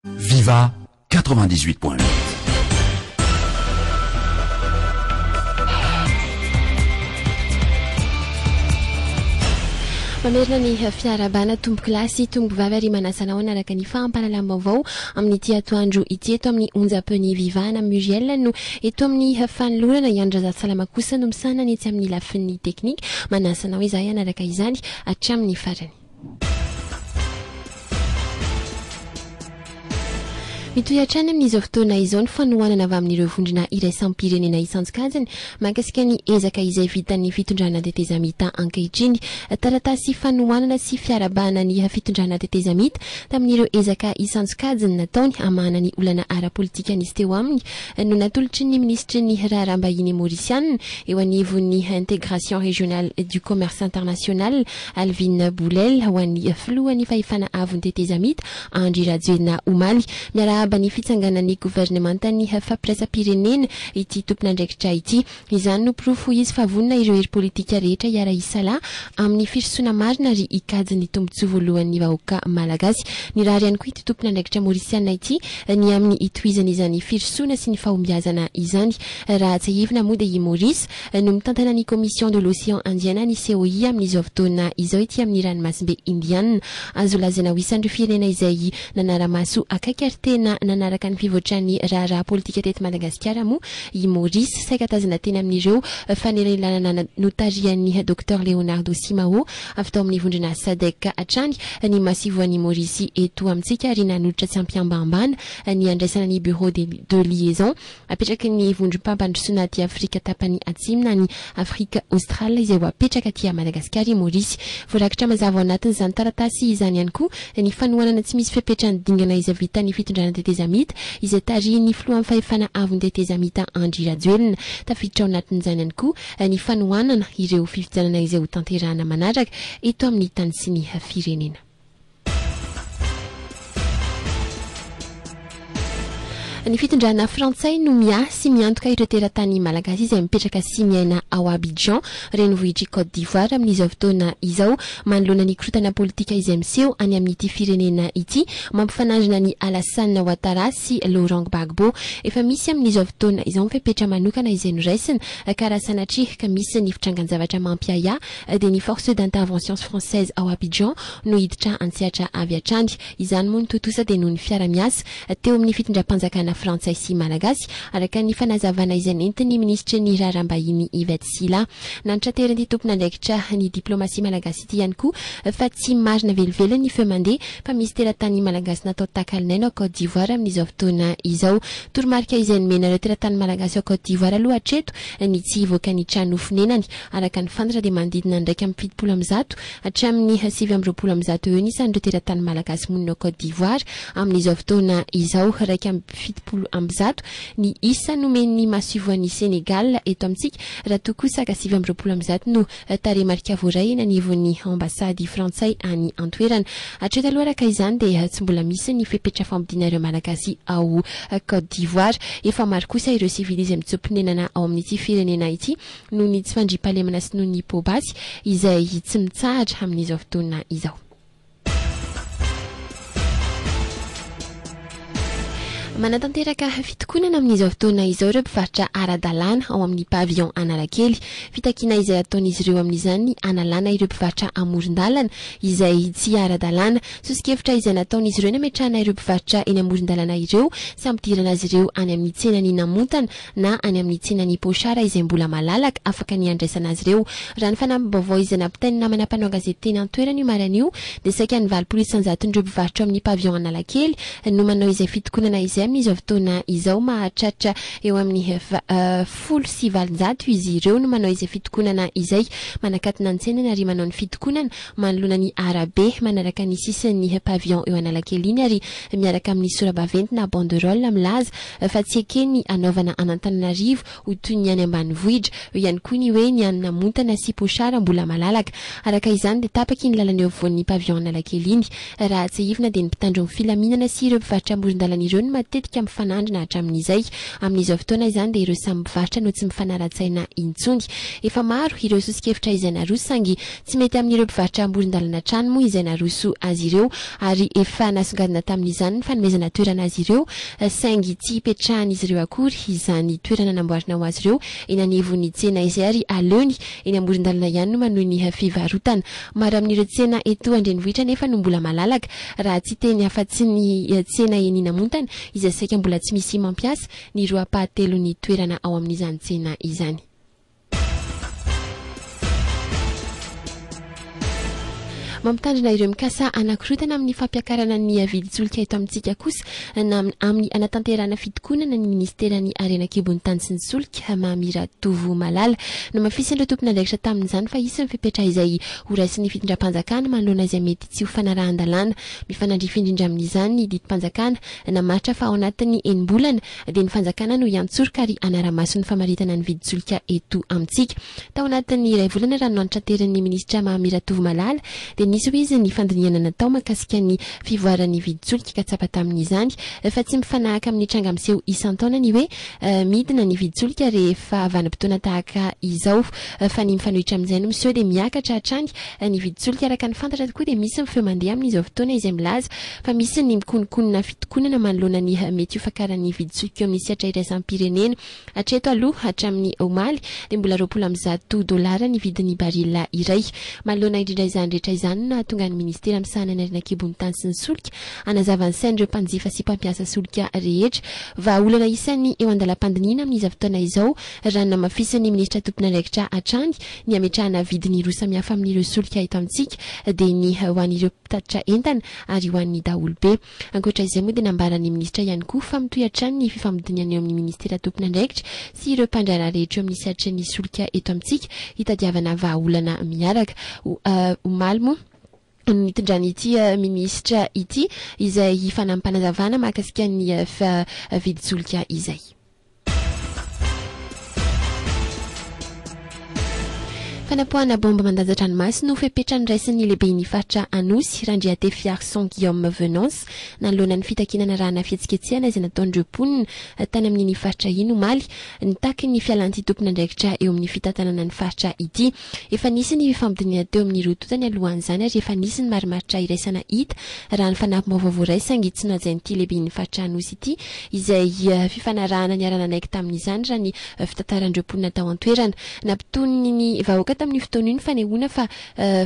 Viva 98.8 Mamerina ny fiarahabana tompokilasy, tompokivavy ary manasa anao hanaraka ny fahampahalalam-baovao amin'ity atoandro ity eto amin'ny onjam-peon'ny Viva na Muriel no eto amin'ny fanolorana i Andry Razafsalama kosa no misahana ny etsy amin'ny lafiny teknika. Manasa anao izahay hanaraka izany hatramin'ny farany. Mitohy hatrany amin'izao fotoana izao ny fanohanana avy amin'ireo vondrona iraisam-pirenena isan-tsokajiny mahakasika ny ezaka izay vitan'ny fitondrana tetezamita ankehitriny. Taratasy fanohanana sy fiarahabana ny fitondrana tetezamita tamin'ireo ezaka isan-tsokajiny nataony hamahana ny olana ara-politika nisy teo aminy no natolotry ny minisitry ny raharaham-bahiny Maorisiana eo anivon'ny Integration Régionale du Commerce International Alvin Boulel ho an'ny filohan'ny fahefana avon'ny tetezamita, Andry Rajoelina omaly. Miarahaba ny fitsanganan'ny governemantan'ny fampiraisam-pirenena ity tompon'andraikitra ity. Izany no porofo hoy izy fa vonona ireo hery politika rehetra hiara-hisalahy amin'ny firosoana marina ary hikajy ny tombontsoa voalohan'ny vahoaka malagasy. Nirary ihany koa ity tompon'andraikitra maorisiana ity ny amin'ny hitohizan'izany firosoana sy ny fahombiazana izany. Raha tsiahivina moa dia i Maorisy no mitantaina ny Commission de l'Océan Indien na ny COI amin'izao fotoana izao ety amin'ny ranomasimbe Indiana. Azo lazaina ho isan'ireo firenena izay nanara-maso akaiky ary tena nanaraka ny fivoatran'ny raharaha politika teto Madagasikara moa i Maurice, saika tazana teny amin'ireo fanelanelanana notarihan'ny Docteur Leonardo Simao avy tao amin'ny vondrona Sadec hatrany ny masivoan'i Maurice eto amintsika ary nanolotra tsy am-pihambahambana ny handraisana ny Bureau de liaison Apetraky ny vondrom-pampandrosoana aty Afrika tapany atsimo na ny Afrika Aostrale izay ho apetraka aty Madagasikara i Maorisy. Voarakitra mazava ao anatin'izany taratasy izany ihany koa ny fanohanana tsy misy fepetra ny dingana izay vitan'ny fitondrana tetezamita izay tarihin'ny filohan'ny fahefana avon'ny tetezamita Andry Rajoelina. Tafiditra ao anatin'izany ihany koa ny fanohanana ireo fifidianana izay hotanterahana manaraka eto amin'ny tany sy ny firenena. Ny fitondrana frantsay no miahy sy miantoka ireo teratany malagasy izay mipetraka sy miaina ao Abidjan, renivohitr'i Côte d'Ivoire amin'izao fotoana izao, manoloana ny korontana politika izay miseho any amin'ity firenena ity, mampifanandrina an'i Alassane Ouattara sy Laurent Gbagbo. Efa misy amin'izao fotoana izao ny fepetra manokana izay noraisina ka raha sanatria ka misy ny fitrangan-javatra mampiahiahy dia ny Forces d'Interventions Françaises ao Abidjan no hiditra an-tsehatra avy hatrany. Izany moa no tontosa dia noho ny fiara-miasa teo amin'ny fitondram-panjakana frantsay sy malagasy, araka ny fanazavana izay nentin'ny minisitry ny Raharaham-bahiny Yvette Sylla. Nantraterin'ity tompon'andraikitra ny diplaomasia malagasy ity ihany koa fa tsy marina velively ny feo mandeha fa misy teratany malagasy natao takalonaina ao Côte d'Ivoire amin'izao fotoana izao. Toromarika izay nomena ireo teratany malagasy ao Côte d'Ivoire aloha hatreto ny tsy hivoaka ny trano fonenany Araka ny fantatra dia manodidina ny iraika amby fitopolo amby zato hatramin'ny sivy amby roapolo amby zato eo isan'ireo teratany malagasy monina ao Côte d'Ivoire amin'izao fotoana izao. Iraika amby fitopolo amby zato ny isa nomen'ny masoivohon'i Sénégal eto amintsika raha toa kosa ka sivy amby roapolo amby zato no tarehimarika voaray eny anivon'ny ambasady frantsay any an-toerana. Hatreto aloha araka izany dia tsy mbola misy ny fepetra fampodiana ireo malagasy ao Côte d'Ivoire. Efa maro kosa ireo sivily izay mitsoa-ponenana ao amin'ity firenena ity noho ny tsy fandriampahalemana sy noho ny poa-basy izay tsy mitsahatra amin'izao fotoana izao. Manatanteraka fitokonana amin'izao fotoana izao ireo mpivarotra ara-dalàna ao amin'ny Pavillon Analakely. Fitakiana izay ataon'izy ireo amin'izany ny hanalana ireo mpivarotra amoron-dalana izay tsy ara-dalàna. Soso-kevitra izay nataon'izy ireo ny hametrahana ireo mpivarotra eny amoron-dalana ireo sy hampidirana azy ireo any amin'ny tsenan'i Namontana, na any amin'ny tsinan'i Pochard izay mbola malalaka, afaka ny handraisana azy ireo. Raha ny fanamim-baovao izay nampitain'ny namana mpanao an-gazety teny an-toerana io maraina io dia saika ny valopolo isan-jaton'ireo mpivarotra ao amin'ny Pavillon Analakely no manao izay fitokonana izay amin'izao fotoana izao. Mahatratra eo amin'ny folo sy valonjato izy ireo no manao izay fitokonana izay. Manakatona ny tsena na ry manao ny fitokonana. manoloana ny arabe, manaraka ny sisin'ny pavillon eo Analakely iny ary miaraka amin'ny sora-baventy na banderole milaza fa tsy ekeny hanaovana an'Antananarivo ho toy ny any ambanivohitra, eo ihany koa ny hoe ny any Namontana sy Pochard mbola malalaka. Araka izany dia tapaky iny lalana eo afovoan'ny pavillon Analakely iny. Raha tsiahivina dia ny mpitandro ny filaminana sy ireo mpivarotra amoron-dalana ireo no matetika mifanandrina hatramin'izay. Amin'izao fotoana izany dia ireo samy mpivarotra no tsy mifanara-tsaina intsony. Efa maro ireo soso-kevitra izay naroso saingy Tsy mety amin'ireo mpivarotra amoron-dalana hatrany moa izay naroso azy ireo ary efa nasongadina tamin'izany ny fanomezana toerana azy ireo saingy tsy hipetrahan'izy ireo akory izany toerana namboarina ho azy ireo eny anivon'ny tsena izay ary aleony eny amoron-dalana ihany no manohy ny fivarotana. Maro amin'ireo tsena eto an-drenivohitra anefa no mbola malalaka raha tsy hiteny afa-tsy ny tsena eny Namontana izay saika mbola tsy misy mampiasa ny roa-pahatelon'ny toerana ao amin'izany tsena izany. Mampitandrina ireo mikasa hanakorontana amin'ny fampiakarana ny vidin-tsolika eto amintsika kosa na amin'ny hanatanterahana fitokonana ny minisiteran'ny harena an-kibon'ny tany sy ny solika, Mamira Tovo Malala. Namafisin'ireo tompon'andraikitra tamin'izany fa hisy ny fepetra izay horaisin'ny fitondram-panjakana manoloana izay mety tsy ho fanarahan-dalàna. Mifanandrify indrindra amin'izany ny didim-panjakana namaritra fa ao anatin'ny enim-bolana, dia ny fanjakana no hiantsoroka ary hanara-maso ny famaritana ny vidin-tsolika eto amintsika. Tao anatin'ny iray volana raha no antranterin'ny minisitra Mamy Ratovomalala dia nisy ho izy ny fandinihana natao mahakasika ny fivoaran'ny vidin-tsolika ka tsapa tamin'izany fa tsy mifanahaka amin'ny tranga miseho isan-taona ny hoe midina ny vidin-tsolika rehefa vanim-potoana tahaka izao fa ny mifanohitra amin'izay no miseho dia miakatra hatrany ny vidin-tsolika araka ny fantatra tokoa dia misy ny feo mandeha amin'izao fotoana izay milaza fa misy ny mikonokonona fitokonana manoloana ny mety ho fakaran'ny vidin-tsolika eo amin'ny sehatra iraisam-pirenena. Hatreto aloha, hatramin'ny omaly, dia mbola roapolo amby zato dolara ny vidin'ny baril iray. Manoloana indrindra izany rehetra izany no nahatonga ny minisitera misahana ny harena an-kibon'ny tany sy ny solika hanazava ny sain'ireo mpanjifa sy mpampiasa solika rehetra. Vahaolana isan'ny eo an-dalam-pandinihina amin'izao fotoana izao, raha ny namafisin'ny minisitra tompon'andraikitra hatrany, ny hametrahana vidiny roa samihafa amin'ireo solika eto amintsika, dia ny ho an'ireo. mpitatitra entana ary ho an'ny daholobe. Ankoatra izay moa dia nambaran'ny minisitra ihany koa fa mitohy hatrany ny fifamdidinana eo amin'ny minisitera tompon'andraikitra sy ireo mpandraharaha rehetra eo amin'ny sehatrin'ny solika eto amintsika hitadiavana vahaolana miaraka. Omaly moa no nitondran'ity minisitra ity izay fanampanazavana mahakasika ny vidin-tsolika izay. Fanapoahana baomba mandanjan-dranomaso no fepetra noraisin'ny lehiben'ny faritra Anosy, Randriatefiarison Guillaume Venance, nanoloana ny fitakiana narahana fihetsiketsehana izay nataon'ireo mponina tany amin'iny faritra iny omaly, nitaky ny fialan'ity tompon'andraikitra eo amin'ny fitantanana ny faritra ity. Efa nisy ny fampidinihana teo amin'ny roa tonta nialohan'izany ary efa nisy ny marimaritra iraisana hita, raha ny fanampi-baovao voaray saingy tsy nohajain'ity lehiben'ny faritra Anosy ity izay fifanarahana niara-nanaiky tamin'izany, raha ny fitantaran'ireo mponina tao an-toerana. Nampitony ny vahoaka tamin'io fotoana io ny fanehoana fa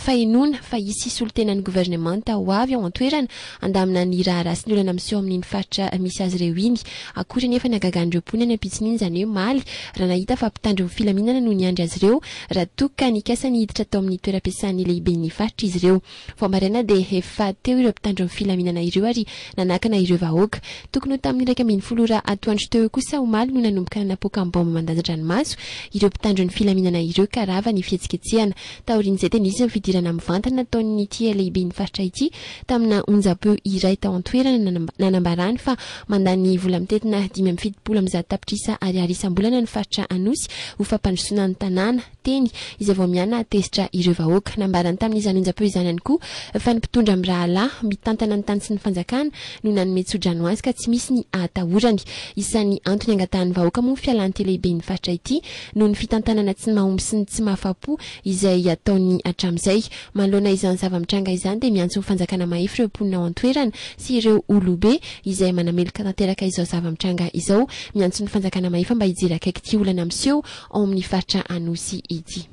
fahenoana fa hisy solontenan'ny governemanta ho avy ao an-toerana, Handamina ny raharaha sy ny olana miseho amin'iny faritra misy azy ireo iny. Akory anefa ny hagagan'ireo mponina any am-pitsiny iny, izany hoe Maly, raha nahita fa mpitandro ny filaminana no niandry azy ireo, raha toa ka nikasa ny hiditra tao amin'ny toeram-piasan'ny lehiben'ny faritra izy ireo. Vao maraina dia efa teo ireo mpitandro ny filaminana ireo ary nanakana ireo vahoaka. Tokony ho tamin'ny iraika ambin'ny folo ora atoandro teo eo kosa omaly no nanomboka nanapoaka am-baomba mandanjan-dranomaso ireo mpitandro ny filaminana ireo ka rava ny fihetsiketsehana. Taorian'izay dia nisy ny fidirana mivantana nataon'ity lehiben'ny faritra ity tamina onjam-peo iray tao an-toerana nanambarany fa mandany vola mitentina dimy amby fitopolo amby zato tapitrisa ariary isam-bolana ny faritra Anosy ho fampandrosoana ny tanàna teny izay vao miana tezitra ireo vahoaka. Nambarany tamin'izany onjam-peo izany ihany koa fa ny mpitondra mirahalahy mitantana ny tany sy ny fanjakana no nanome tsodrano azy ka tsy misy ny ahatahorany. Isan'ny antony angatahan'ny vahoaka moa ny fialan'ity lehiben'ny faritra ity noho ny fitantanana tsy mahomby sy ny tsy mahafapo izay ataony hatramin'izay. Manoloana izany zava-mitranga izany dia miantso ny fanjakana mahefy ireo mponina ao an-toerana sy ireo olobe izay manameloka tanteraka izao zava-mitranga izao. Miantso ny fanjakana mahefa mba hijery akaiky ity olana miseho ao amin'ny faritra Anosy ity.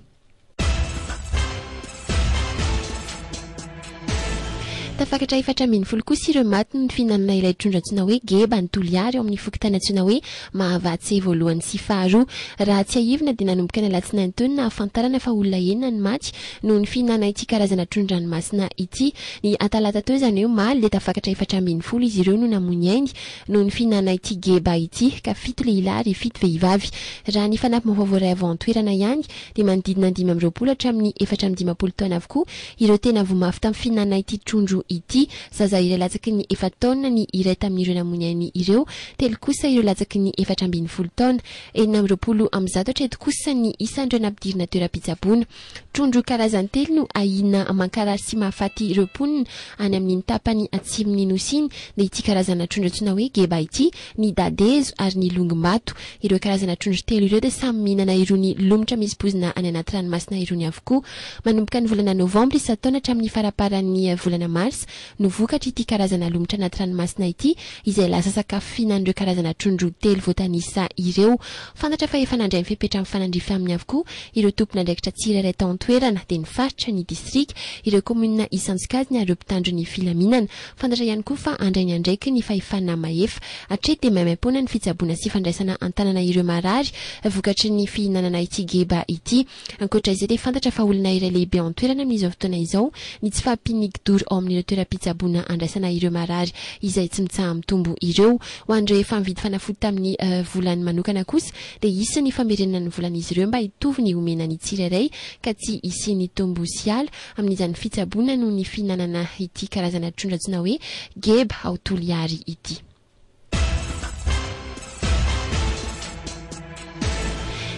Tafakatra efatra ambin'ny folo kosa ireo maty noho ny fihinanana ilay trondro antsoina hoe geba ny Toliary ao amin'ny fokontany antsoina hoe Mahavatse voalohany sy faharoa. Raha tsiahivina dia nanomboka ny alatsinainy teo no nahafantarana fa olona enina ny maty noho ny fihinanana ity karazana trondron-dranomasina ity. Ny atalata teo izany hoe omaly dia tafakatra efatra ambin'ny folo izy ireo no namoy ny ainy noho ny fihinanana ity geba ity ka fito lehilahy ary fito vehivavy. Raha ny fanampim-baovao voaray avy ao an-toerana ihany dia manodidina ny dimy amby roapolo hatramin'ny efatra amby dimampolo taona avokoa ireo tena voa mafy tamin'ny fihinanana ity trondro ity. Zaza iray latsaky ny efa-taona ny iray tamin'ireo namoy ny ainy ireo, telo kosa ireo latsaky ny efatra ambin'ny folo taona. Enina amby roapolo amby zato hatreto kosa ny isan'ireo nampidirina toeram-pitsaboana. Trondro karazany telo no ahiana mankarary sy mahafaty ireo mponina any amin'iny tapany atsimon'ny Nosy iny, dia ity karazana trondro antsoina hoe geba ity ny dadezo ary ny longimbato. Ireo karazana trondro telo ireo dia samy mihinana irony lomotra misy poizina any anaty ranomasina irony avokoa. Manomboka ny volana novambra isan-taona hatramin'ny faraparan'ny volana marsa no vokatry ity karazana lomotra anaty ranomasina ity izay lasa sakafo fihinan'ireo karazana trondro telo voatanisa ireo. Fantatra fa efa nandray ny fepetra mifanandrify aminy avokoa ireo tompon'andraikitra tsirairay tao an-toerana dia ny faritra, ny distrika, ireo kaominina isan-tsokajiny ary ireo mpitandro ny filaminana. Fantatra ihany koa fa handray ny andraikiny ny fahefana mahefa. Hatreto dia maimaimpoana ny fitsaboana sy fandraisana an-tanana ireo marary vokatry ny fihinanana ity geba ity. Ankoatra izay dia fantatra fa olana iray lehibe an-toerana amin'izao fotoana izao ny tsy fahampian'ny kdoro ao amin'ireo toeram-pitsaboana handraisana ireo marary izay tsy mitsaha-mitombo ireo. Ho an'ireo efa nividy fanafody tamin'ny volany manokana kosa dia hisy ny famerenana ny volan'izy ireo mba hitovy ny omena ny tsirairay ka tsy hisian'ny tombo sy ala amin'izany fitsaboana noho ny fihinanana ity karazana trondro antsoina hoe geba ao Toliary ity.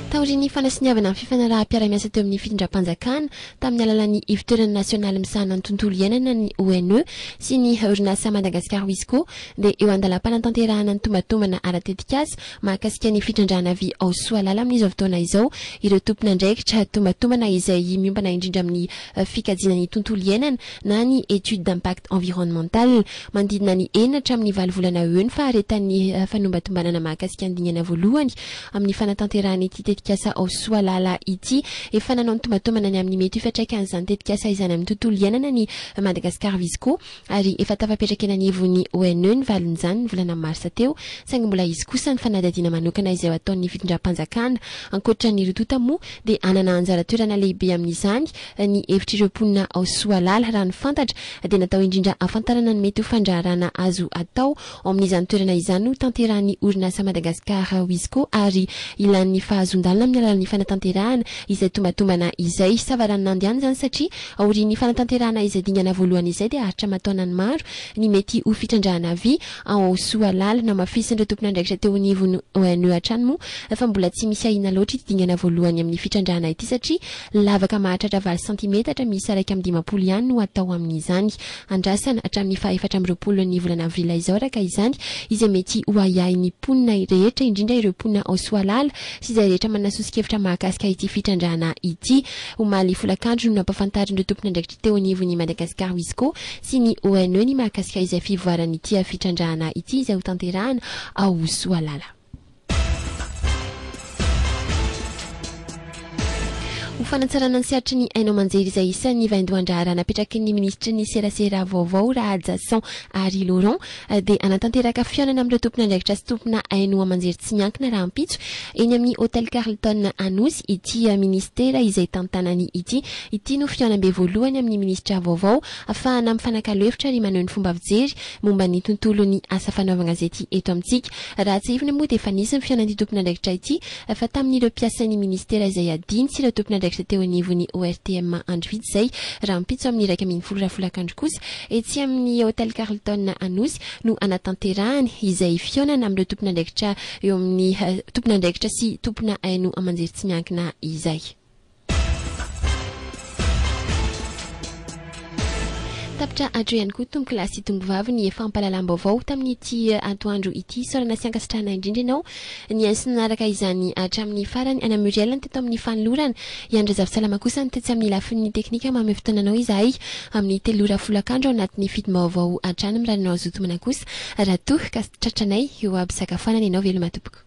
Taorian'ny fanasoniavana ny fifanaraham-piarahamiasa teo amin'ny fitondram-panjakana tamin'ny alalan'ny ivotoerana nasionaly misahana ny tontolo iainana ny ONE sy ny orinasa Madagascar Wisco dia eo an-dalam-panatanterahana ny tombatomana ara-tetikasa mahakasika ny fitrandrahana avy ao Soalala amin'izao fotoana izao ireo tompon'andraikitra tombantombana izay miompana indrindra amin'ny fikajiana ny tontolo iainana na ny étude d'impact environnemental manodidina ny enina hatramin'ny valo volana eo ny faharetan'ny fanombantombanana mahakasika ny dingana voalohany amin'ny fanatanterahana ity tetikasa ao Soalala ity. Efa nanao ny tombantombana ny amin'ny mety ho fiantraikan'izany tetikasa izany amin'ny tontolo iainana ny Madagascar Visco. ary efa tafapetraka eny anivon'ny ONE ny valin-izany ny volana marsa teo, saingy mbola hisy kosa ny fanadihadiana manokana izay ho ataon'ny fitondram-panjakana. Ankoatra ny Rtota moa dia hanana anjara toerana lehibe amin'izany ny hevitr'ireo mponina ao Soalala. Raha ny fantatra dia natao indrindra hahafantarana ny mety ho fandraharahana azo atao Ao amin'izany toerana izany no tanterahan'ny orinasa Madagascar Wisco ary ilàn'ny fahazoan-dalana amin'ny alalan'ny fanatanterahana izay tombatombana izay. Savaranonando ihany izany satria aorian'ny fanatanterahana izay dingana voalohany izay dia aritra aman-taonany maro ny mety ho fitrandrahana vy ao Soalala. Namafisin'ireo tompon'andraikitra teo anivon'ny ONE hatrany moa fa mbola tsy misy ahiana loatra ity dingana voalohany amin'ny fitrandrahana ity satria lavaka mahatratra valo santimetatra miisa iraika amby dimampolo ihany no atao amin'izany. andrasana hatramin'ny faha efatra amby roapolo ny volana avrila izao araka izany, izay mety ho ahiahin'ny mponina rehetra, indrindra ireo mponina ao Soalala sy izay rehetra manana soso-kevitra mahakasika ity fitrandrahana ity. Omaly folakandro no nampahafantarin'ireo tompon'andraikitra teo anivon'ny Madagascar Wisco sy ny ONE ny mahakasika izay fivoaran'ity fitrandrahana ity izay hotanterahana ao Soalala. Ho fanatsarana ny sehatry ny haino aman-jery izay isan'ny vaindohan-draharaha napetraky ny minisitry ny serasera vaovao Rahajason Harry Laurent dia hanatanteraka fihaonana amin'ireo tompon'andraikitra sy tompona haino aman-jery tsy miankina rahampitso eny amin'ny Hotel Carlton Anosy ity minisitera izay tantanany ity. Ity no fihaonambe voalohany amin'ny minisitra vaovao afahana mifanakalo hevitra ary maneho ny fomba fijery momba ny tontolon'ny asa fanaovan-gazety eto amintsika. Raha tsiahivina moa dia efa nisy ny fihaonan'ity tompon'andraikitra ity fa tamin'ireo mpiasan'ny minisitera izay adino sy ireo tompon'andraikitra teo anivon'ny ORTM andro vitsy izay. Rahampitso amin'ny iraika ambin'ny folo ora folakandro kosa, etsy amin'ny Hotel Carlton Anosy no hanatanterahany izay fihaonana amin'ireo tompon'andraikitra eo amin'ny tompon'andraikitra sy tompona haino aman-jery tsy miankina izay. Tapitra hatro ihany koa tompokolahy sy tombovavy ny fampahalalam-baovao tamin'ity atoandro ity. Isaorana sy ankasitrahana indrindra ianao nihaino sy nanaraka izany hatramin'ny farany. Anà Muriel ny teto amin'ny fanolorana, i Andry Razafisalama kosa ny tetsy amin'ny lafiny teknika. Manome fotoana anao izahay amin'ny telo ora folakandro ao anatin'ny fidim-baovao hatrany. Mirary anao hazoto manak'osa raha toa ka tratranay eo am-pisakafoanana ianao. Veloma tompoko.